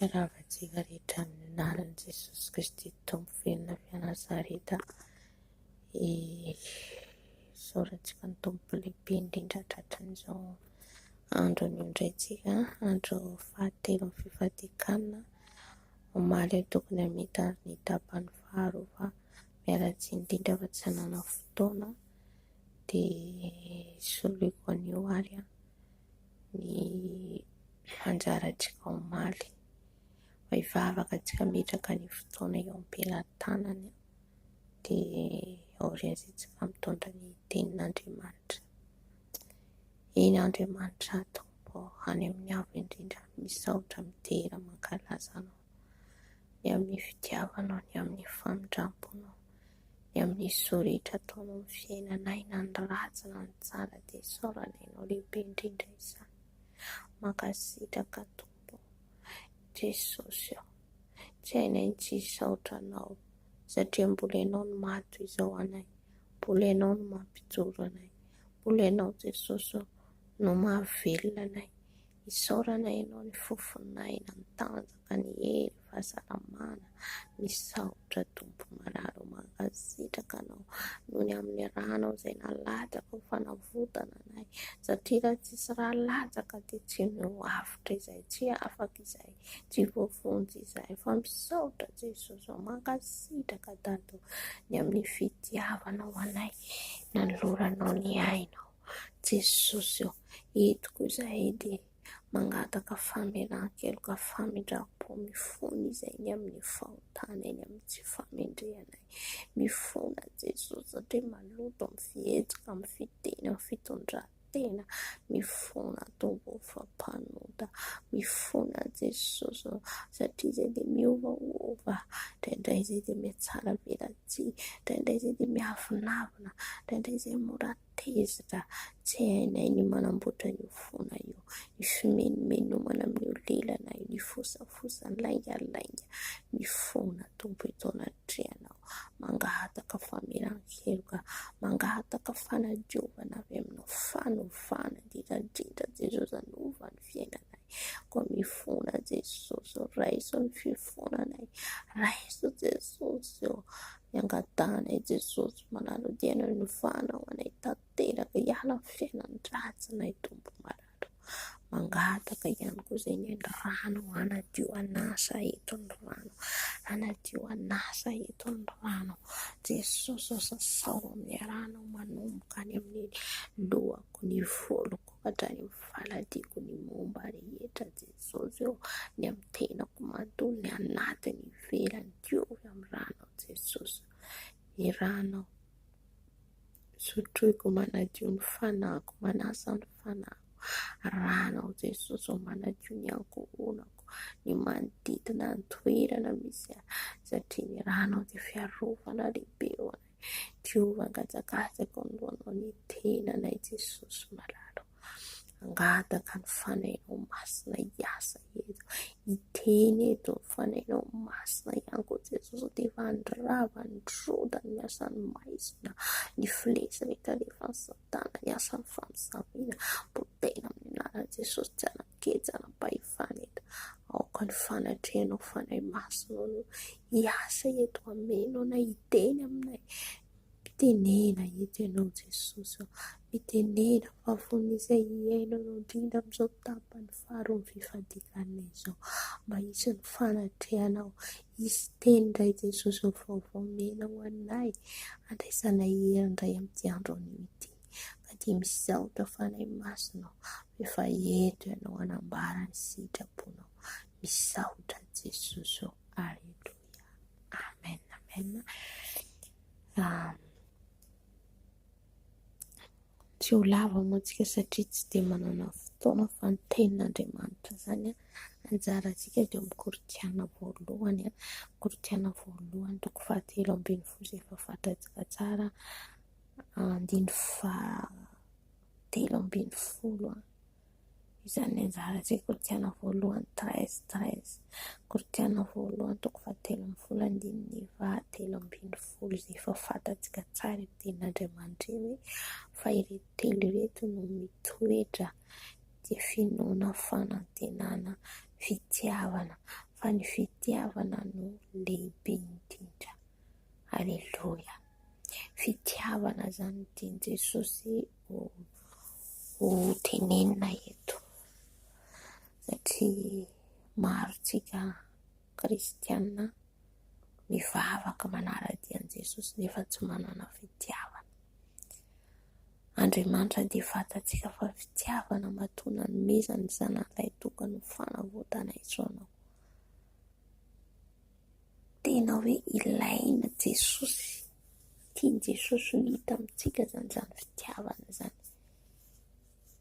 Iaravantsika rehetra amin'ny anaran'i Jesosy Kristy Tompo velona avy Nazareta isaorantsika ny Tompo lehibe indrindra tratran'izao andro anio indray tsika andro fahatelo amin'ny fifadiakana omaly eo tokony hamita ny tapany faharoa fa miala tsiny indrindra fa tsy hanana fotoana dia soloko anio ary ny anjarantsika omaly fa hivavaka antsika hametraka ny fotoana eo am-pelantanany dia aorian'izay tsika mitondra ny tenin'Andriamanitra. Eny Andriamanitra Tompo ô, any amin'ny Avo indrindra misaotra midera mankalaza anao. ny amin'ny fitiavanao, ny amin'ny famindramponao, ny amin'ny soa rehetra ataonao amin'ny fiainanay na ny ratsy na ny tsara dia isaorana ianao lehibe indrindra izany. Mankasitraka Tompo ô Jesosy ô, tsy hainay ny tsy hisaotra anao satria mbola ianao no maha toy izao anay, mbola ianao no mampijoro anay, mbola ianao Jesosy ô no mahavelona anay. Isaorana ianao ny fofon'aina mitanjaka ny hery fahasalamana misaotra tompo marary mankasitraka anao noho ny amin'ny ranao izay nalatsaka ho fanavotana anay satria raha tsisy ra latsaka dia tsy ny ho avotra izay tsy afaka izay tsy voavonjy izay fa misaotra jesosy o mankasitraka dado ny amin'ny fitiavanao anay nanoloranao ny ainao Jesosy ô, eto koa izahay dia mangataka famelan-keloka, famindram-po, mifona izay ny amin'ny fahotana eny amin'ny tsy fahamendrehanay, mifona Jesosy satria maloto amin'ny fihetsika, amin'ny fiteny, amin'ny fitondran-tena, mifona Tompo ô fa mpanota, mifona Jesosy ô satria izay dia miovaova, indraindray izay dia mihatsaravelatsihy, indraindray izay dia miavonavona, indraindray izay mora Tezitra, tsy hainay ny manamboatra io fona io, ny fimenomenomana amin'io lelana io, ny fosafosa, ny laingalainga, ny fona Tompo etoana Andrianao, mangahataka famelan-keloka, mangahataka fanadiovana avy Aminao, fanovana, indrindra indrindra Jesosy anova ny fiainanay, koa mifona Jesosy ô, raiso ny fifonanay, raiso Jesosy ô, Iangatahanay Jesosy manara-dia noho ny fahanao anay tanteraka hiala amin'ny fiainan'ny ratsinay Tompo marary. Mangataka ihany koa izay ny ainy rano hanadio an'asa eto ny rano hanadio an'asa eto ny rano Jesosy sasao amin'ny rano manomboka any amin'ny lohako ny voloko. Hatrany amin'ny faladihako ny momba rehetra Jesosy ô, ny amin'ny tenako manontolo ny anaty ny ivelany diovy amin'ny ranao Jesosy ô, ny ranao sotroiko manadio ny fanahiko manasa ny fanahiko, ranao Jesosy ô manadio ny ankohonako, ny manodidina ny toerana misy ahy satria ny ranao dia fiarovana lehibe ho anay. Ko angajangajako ny lohanao ny tenanay Jesosy malala o Hangataka ny fanahinao masina hiasa eto Hiteny eto ny fanahinao masina ihany koa Jesosy o Dia efa nirava nirodana ny asan'ny maizina Ny filesy rehetra rehefa mitana ny asan'ny faminaniana potehina amin'ny anaran'i Jesosy tsy hanan-kery tsy hanam-pahefana eto aoka ny fanatrehanao fanahy masinao no hiasa eto hameno anay hiteny aminay mitenena eto ianao Jesosy mitenena fa vonona izay hiaina indrindra amin'izao tapany faharoa ny fifadianana izao mba hisy ny fanatrehana ao. Hisy teny indray Jesosy ny vaovao omena ho anay handraisanay hery indray amin'ity andro anio ity. Fa dia misaotra Fanahy Masina aho fa efa eto ianao hanambara ny sitraponao. Misaotra an'i Jesosy ô. Aleloia. Amen. Amen. Um, Tsy ho lava moa isika satria tsy dia manana fotoana fa ny tenin'Andriamanitra izany anjarantsika dia amin'ny korintiana voalohany a, korintiana voalohany toko fahatelo ambin'ny folo izay efa fantatsika tsara andininy fahatelo ambin'ny folo a. Izany anjara asa Koritiana voalohany, treize, treize, Koritiana voalohany toko fahatelo ambin'ny folo andininy fahatelo ambin'ny folo izay efa fantatsika tsara eo tenin'Andriamanitra eo hoe fa ireto telo ireto no mitoetra dia finoana, fanantenana, fitiavana fa ny fitiavana no lehibe indrindra. Aleloia. Fitiavana izany ny tian'i Jesosy. ho tenenina eto satria maro isika kristiana mivavaka manara-dia an'i Jesosy nefa tsy manana fitiavana. Andriamanitra dia fantatsika fa fitiavana matoa nanomezany ny zanak'ilay tokana ho fanavotana izao anao. Tena hoe ilaina Jesosy, tian'i Jesosy ho hita amintsika izany, izany fitiavana izany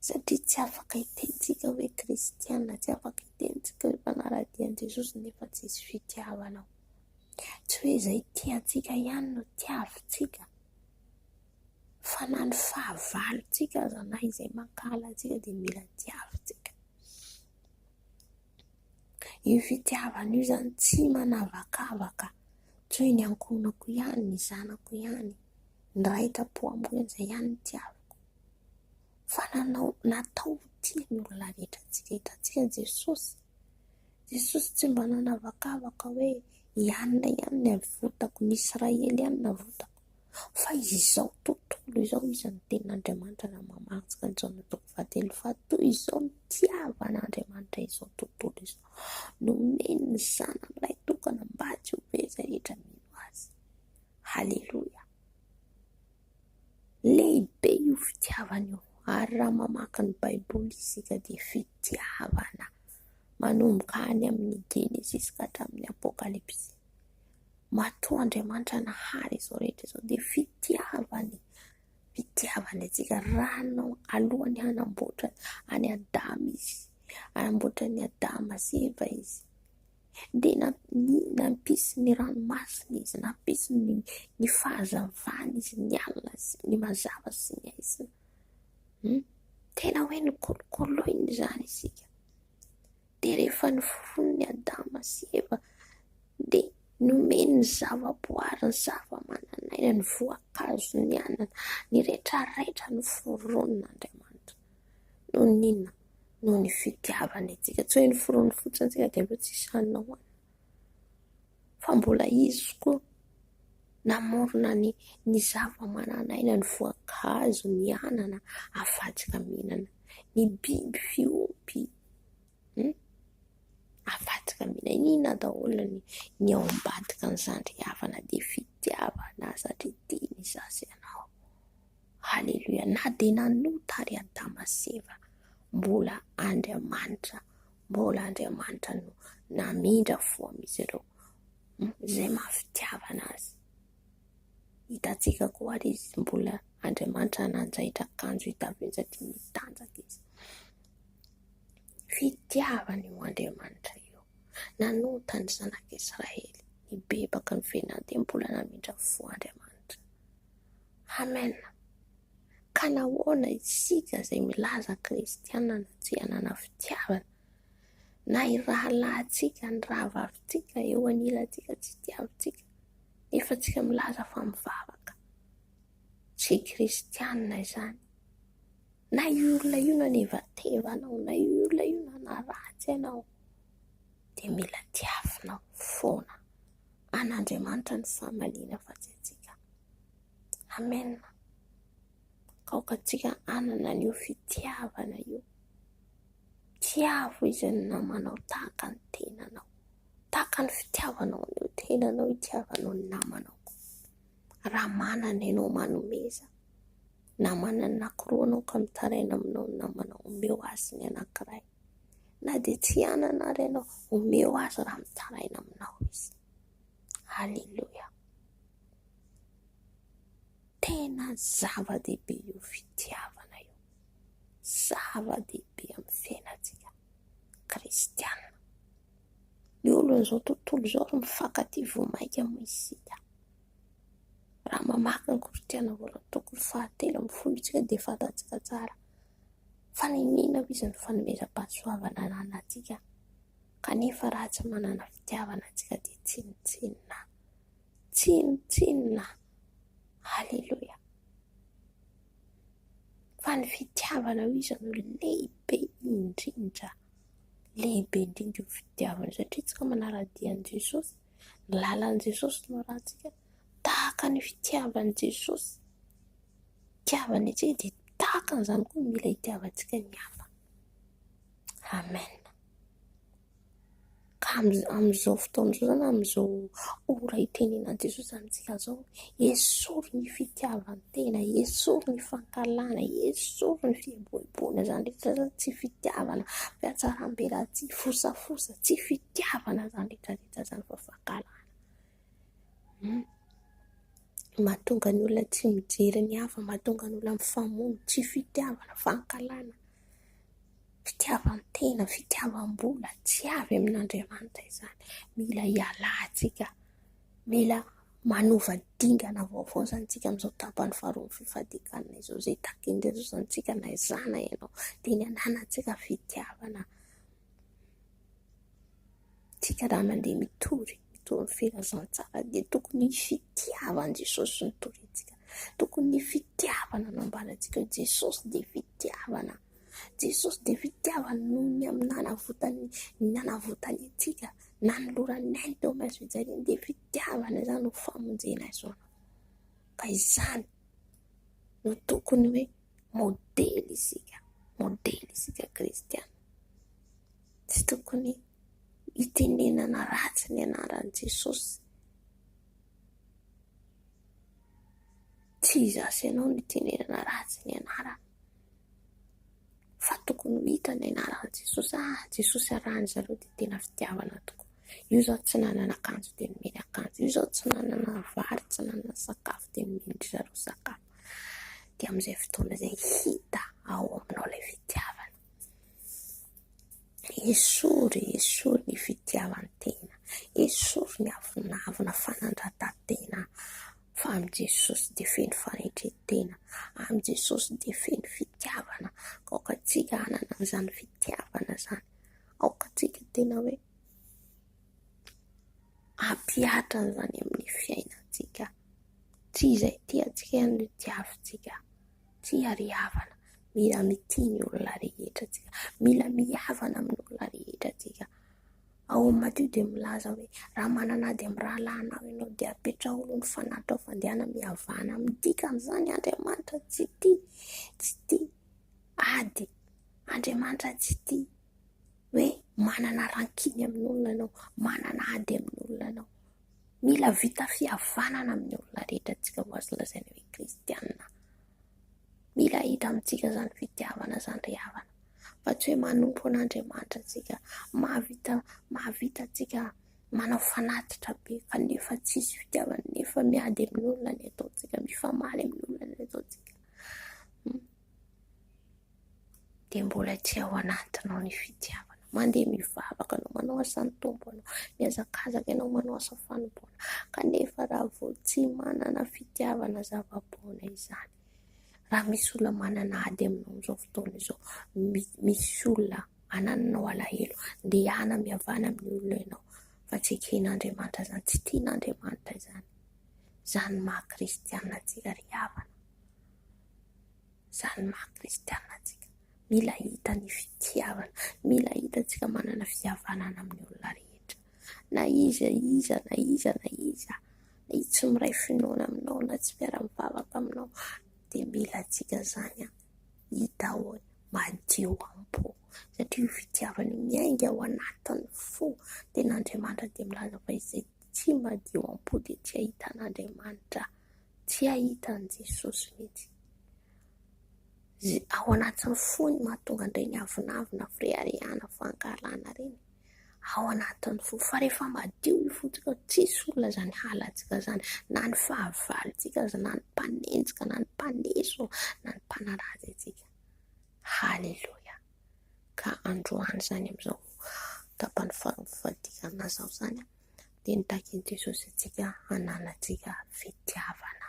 satria tsy afaka hitentsika hoe kristiana, tsy afaka hitentsika hoe mpanara-dia an'i Jesosy nefa tsisy fitiavana ao, tsy hoe izay tiantsika ihany no tiavintsika fa na ny fahavalontsika aza na izay mankahala antsika dia mila tiavintsika. Io fitiavana io izany tsy manavakavaka, toy ny ankohonako ihany, ny zanako ihany, ny raitampo amiko ihany, izay ihany no tiaviko. Fa nanao, natao ho tia ny olona rehetra antsika, hitantsika Jesosy, Jesosy tsy mba nanavakavaka hoe i anona ihany no avotako, ny Israely ihany no avotako. Fa izao tontolo izao iza no tenin'Andriamanitra raha mamaritra ny taona toko fahatelo fa toy izao no nitiavan'Andriamanitra izao tontolo izao, nomeny ny zanany lahitokana mba tsy ho very izay rehetra mino azy. Haleloia. Lehibe io fitiavana io ary raha mamaky ny baiboly isika dia fitiavana manomboka any amin'ny genesisy ka hatramin'ny apokalypsy. Matoa Andriamanitra nahary izao rehetra izao dia fitiavany, fitiavany antsika raha nanao alohan'ny hanamboatra an'i Adama izy, hanamboatra an'i Adama sy Eva izy dia nampisy ny ranomasina izy, nampisy ny fahazavana izy, ny alina sy ny mazava sy ny aizina. Tena hoe nokolokoloiny izany isika. Dia rehefa nifono ny Adama sy Eva dia nomeny ny zava-boary, ny zava-manan'aina, ny voankazo nianana, ny retraretra noforonin' Andriamanitra. Noho ny inona? Noho ny fitiavany antsika. Tsy hoe noforoniny fotsiny antsika dia aleo tsisy hanina hohanina. Fa mbola izy koa namorona ny ny zava-manan'aina, ny voankazo nianana, afadika mihinana. Ny biby fiompy Avadika amin'inona daholo ny ao ambadika an'izany havana dia fitiavana aza dia tiany izaho sy ianao. Haleloia. Na dia nanota àry Adama sy Eva, mbola Andriamanitra, mbola Andriamanitra no namindra fo amin'izy ireo, izay maha fitiavana azy. Hitantsika koa ary izy mbola Andriamanitra nanjaitra akanjo hita vitsy mitanjaka izy. Fitiavana io Andriamanitra io. Nanota ny zanak'Israely, nibebaka ny venany dia mbola namindra fo Andriamanitra. Amen. Ka nahoana isika izay milaza kristiana no tsy hanana fitiavana? Na irahalahintsika, ny rahavavintsika eo anilantsika tsy tiantsika. Nefa tsika milaza fa mivavaka. Tsy kristianina izany. Na io olona io nanevateva anao, na io olona io nanaratsy anao, dia mila diavinao foana. An'Andriamanitra ny famaliana fa tsy antsika. Amen. Aoka tsika hanana an'io fitiavana io. Tiavo izy namanao tahaka ny tenanao. Tahaka ny fitiavanao ny tenanao itiavanao ny namanao. Raha manana ianao manomeza, na manana anankiroa ianao ka mitaraina aminao ny namanao, omeo azy ny anankiray. Na dia tsy hanana ary ianao, omeo azy raha mitaraina aminao izy. Aleloia. Tena zava-dehibe io fitiavana io. Zava-dehibe amin'ny fiainantsika kristiana. Ny olon'izao tontolo izao ary mifankatia vao mainka moa isika. Raha mamaky ny Kristianina voalohany toko fahatelo ambin'ny folo isika dia fantatsika tsara fa niniana hoy izy ny fanomezam-pahasoavana ananantsika kanefa raha tsy manana fitiavana isika dia tsinontsinona. Tsinontsinona. Aleloia. fa ny fitiavanao izy no lehibe indrindra, lehibe indrindra io fitiavanao satria isika manara-dia an'i Jesosy, ny lalan'i Jesosy no arahintsika, tahaka ny fitiavan'i Jesosy hitiavany antsika dia tahaka an'izany koa mila hitiavantsika ny hafa, amen. Ka amin'izao fotoana izao na amin'izao ora itenenan'i Jesosy amintsika izao, esory ny fitiavan-tena, esory ny fankahalana, esory ny fieboeboana. Izany rehetra izany tsy fitiavana, fihatsarambelatsihy, fosafosa, tsy fitiavana izany rehetra rehetra izany fa fankahalana. Mahatonga ny olona tsy mijery ny hafa, mahatonga ny olona mifamono, tsy fitiavana, fankahalana. fitiavan-tena, fitiavam-bola tsy avy amin'Andriamanitra izany. Mila hialantsika, mila manova dingana vaovao izany isika amin'izao tapany faharoa ny fifadian-kanina izao. Izay takin'i Jesosy izany isika na izaho na ianao, dia ny hananantsika fitiavana. Isika raha mandeha mitory, mitory ny filazantsara dia tokony fitiavana an'i Jesosy no torintsika. Tokony fitiavana no ambarantsika hoe Jesosy dia fitiavana. Jesosy dia fitiavana noho ny amin'ny nanavotany, ny nanavotany antsika, nanolorany ny ainy teo amin'ny hazo fijaliana dia fitiavana izany no famonjena azy hono. Ka izany no tokony hoe modely isika, modely isika kristiana. Tsy tokony hitenenana ratsy ny anaran'i Jesosy. Tsy izaho sy ianao no hitenenana ratsy ny anarany, fa tokony ho hita ny anaran'i Jesosy hoe ah, Jesosy arahin-dry zareo dia tena fitiavana tokoa. Io izao tsy nanana akanjo dia nomeny akanjo, io izao tsy nanana vary, tsy nanana sakafo dia nomendry zareo sakafo. Dia amin'izay fotoana izay hita ao aminao ilay fitiavana. Esory, esory ny fitiavan-tena, esory ny avonavona, fanandratan-tena, fa amin'i Jesosy dia feno fahendren-tena, amin'i Jesosy dia feno fitiavana, aoka tsika hanana izany fitiavana izany, aoka tsika tena hoe hampihatra an'izany amin'ny fiainantsika, tsy izay tiantsika ihany no tiavintsika. Tsia ry havana, mila mitia ny olona rehetra tsika, mila mihavana amin'ny olona rehetra tsika. Ao amin'ny Matio dia milaza hoe raha manana ady amin'ny rahalahinao ianao dia apetraho aloha ny fanahitrao fa andehana mihavana. Midika an'izany Andriamanitra tsy tia, tsy tia ady. Andriamanitra tsy tia hoe manana rankiny amin'olona ianao, manana ady amin'olona ianao. Mila vita fihavanana amin'ny olona rehetra antsika ho azo lazaina hoe kristiana. Mila hita amintsika izany fitiavana izany ry havana, fa tsy hoe manompo an'Andriamanitra antsika, mahavita mahavita antsika manao fanatitra be kanefa tsisy fitiavana, nefa miady amin'olona ny ataontsika, mifamaly amin'olona ny ataontsika. dia mbola tsy ao anatinao ny fitiavana. Mandeha mivavaka anao, manao asan'ny tompo anao, mihazakazaka ianao manao asa fanompoana, kanefa raha vao tsy manana fitiavana zava-poana izany, raha misy olona manana ady aminao amin'izao fotoana izao, misy olona anananao alahelo, ndehana mihavana amin'ny olona ianao, fa tsy eken'Andriamanitra izany, tsy tian'Andriamanitra izany, izany maha kristiana antsika ry havana. Izany ny maha kristiana antsika, mila hita ny fitiavana, mila hita antsika manana fihavanana amin'ny olona rehetra, na iza iza, na iza na iza, na iza tsy miray finoana aminao, na tsy mpiara-mivavaka aminao, dia mila antsika izany hita ho madio am-po, satria io fitiavana io miainga ao anatin'ny fo, dia ny Andriamanitra dia milaza fa izay tsy madio am-po dia tsy hahita an'Andriamanitra. Tsy hahita an'i Jesosy mihitsy. Ze ao anatin'ny fony mahatonga an'ireny avonavona, fireharehana, fankahalana ireny, ao anatin'ny fo. Fa rehefa madio ny fontsika, tsisy olona izany halantsika izany, na ny fahavalontsika aza, na ny mpanenjika, na ny mpaneso, na ny mpanaratsy antsika. Haleloia. Ka androany izany amin'izao tapany faharoa fadika amin'izao izany, dia nitakian'i Jesosy antsika hananantsika fitiavana.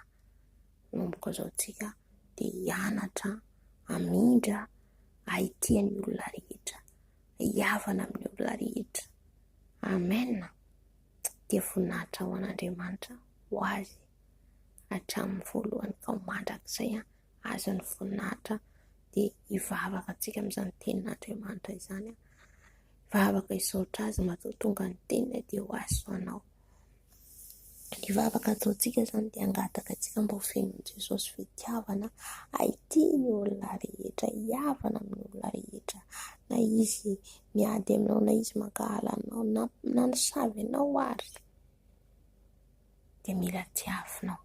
Manomboka izao tsika dia hianatra hamindra hahitia ny olona rehetra, hiavana amin'ny olona rehetra. Amen. Dia voninahitra ho an'Andriamanitra ho azy hatramin'ny voalohany ka mandrakizay. azy ny voninahitra dia hivavaka antsika amin'izany tenin'Andriamanitra izany vavaka hisaotra azy matoa tonga ny teniny dia ho azy ho anao ny vavaka ataontsika izany dia angataka antsika mba ho fenon'i Jesosy fitiavana haity ny olona rehetra hiavana amin'ny olona rehetra na izy miady aminao na izy mankahala anao na na nisavy anao ary dia mila tiavinao.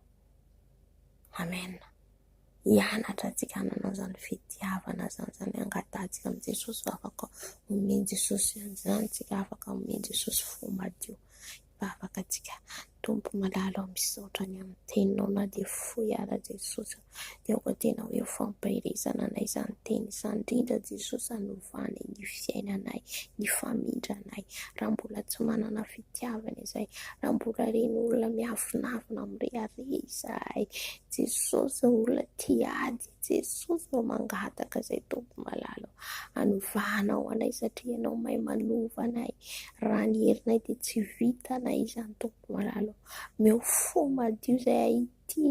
Amen. Hianatra antsika hanana izany fitiavana izany, izany hangatahantsika amin'i Jesosy fa afaka omen'i Jesosy an'izany tsika, afaka omen'i Jesosy fo madio, mba afaka antsika. Tompo malala, misaotra ny amin'ny teninao na dia fohy ara Jesosy. dia aoka tena hoe ho fampaherezana anay izany teny izany, indrindra Jesosy hanovana ny fiainanay, ny famindranay, raha mbola tsy manana fitiavana izay, raha mbola reny olona miavonavona mirehareha izahay, Jesosy ô olona tia ady, Jesosy ô mangataka izay Tompo malala ô, hanovana ho anay satria Ianao mahay manova anay, raha ny herinay dia tsy vitanay izany Tompo malala ô, omeo fo madio izay hahita. ity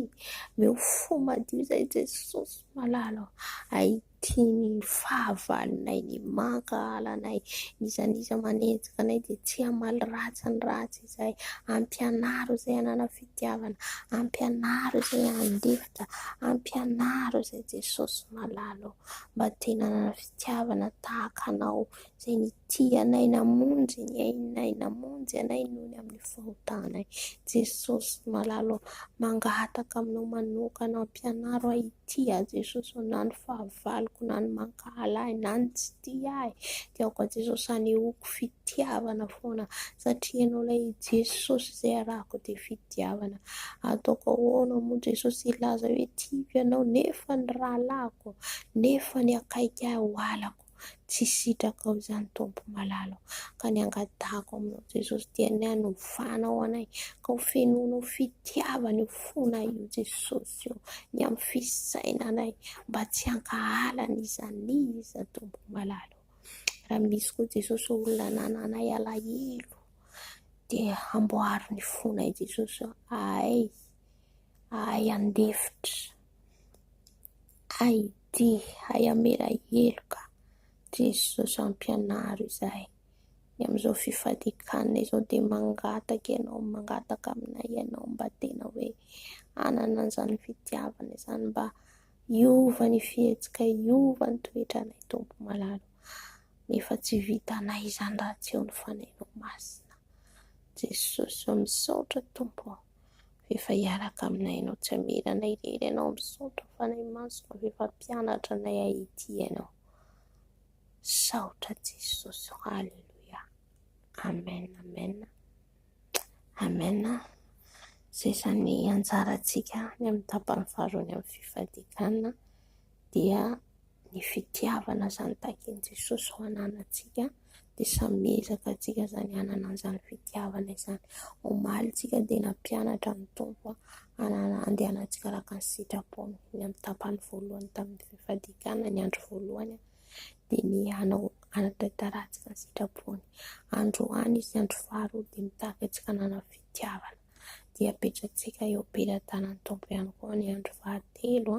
omeo fo madio izay Jesosy malala ô! hay ity ny fahavalonay ny mankahala anay n'iza n'iza manenjika anay dia tsy hamaly ratsy ny ratsy izay hampianaro izay hanana fitiavana hampianaro izay handefitra hampianaro izay Jesosy malala ô! mba te nanana fitiavana tahaka anao Izay nitia anay namonjy ny ainay namonjy anay noho ny amin'ny fahotanay. Jesosy malala ô, mangataka aminao manokana hampianaro ahy hitia ahy Jesosy ô, na ny fahavaloko na ny mankahala ahy na ny tsy tia ahy dia aoka Jesosy hanehoako fitiavana foana satria ianao ilay Jesosy izay arahako dia fitiavana. Ataoko ahoana moa Jesosy hilaza hoe tiako ianao nefa ny rahalahiko nefa ny akaiky ahy ho halako. tsy sitraka ao izany Tompo malala o! ka ny angatahiko aminao Jesosy dia ny hanovanao anay ka ho fenoinao fitiavana io fonay io Jesosy o! ny amin'ny fisainanay mba tsy hankahala ny iza ny iza Tompo malala o! raha misy koa Jesosy o! olona anananay alahelo dia amboaro ny fonay Jesosy o! ahay ahay handefitra Hay ity, hay hamela heloka Jesosy hampianaro izahay. Ny amin'izao fifadian-kanina izao dia mangataka ianao, mangataka aminay ianao mba tena hoe hanana an'izany fitiavana izany mba hiova ny fihetsikay, hiova ny toetranay Tompo malala ô. Nefa tsy vitanay izany raha tsy eo ny Fanahinao Masina. Jesosy ô, misaotra Tompo ô. efa hiaraka aminay ianao tsy hamela anay irery ianao misaotra fanahy masina fa efa mpianatra anay ahity ianao saotra jesosy ô aleloia amen amen amen zay izany anjarantsika any amin'ny tapany faharoany amin'ny fifadianana dia ny fitiavana izany takin'i Jesosy ho ananantsika dia samy miezaka antsika izany hanana an'izany fitiavana izany. Omaly isika dia nampianatra ny Tompo hanana andehanantsika araka ny sitrapony. Ny amin'ny tapany voalohany tamin'ny fifadian-kanina ny andro voalohany dia ny hanao hanatantarantsika ny sitrapony. Androany sy andro faharoa dia mitaky antsika hanana fitiavana dia apetratsika eo am-pelatanan'ny Tompo ihany koa ny andro fahatelo.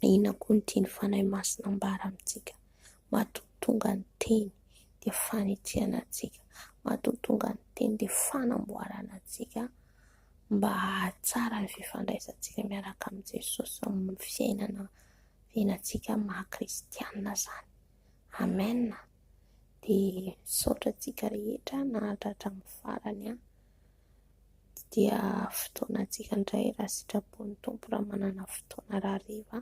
Inona koa ny tian'ny Fanahy Masina ambara amintsika? Matoa tonga ny Teny dia fanetreana antsika, matoa tonga ny Teny dia fanamboarana antsika mba hahatsara ny fifandraisantsika miaraka amin'i Jesosy amin'ny fiainana fiainantsika maha kristianina izany. Amen. Dia misaotra antsika rehetra nahatratra amin'ny farany. dia fotoanantsika indray raha sitrapon'ny Tompo raha manana fotoana rahariva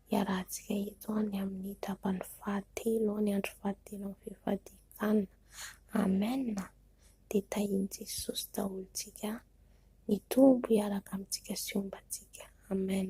hiarahantsika eto any amin'ny tapany fahatelo ny andro fahatelo amin'ny fifadian-kanina. Amen dia tahian'i Jesosy daholo isika mitombo hiaraka amintsika sy homba antsika. Amen.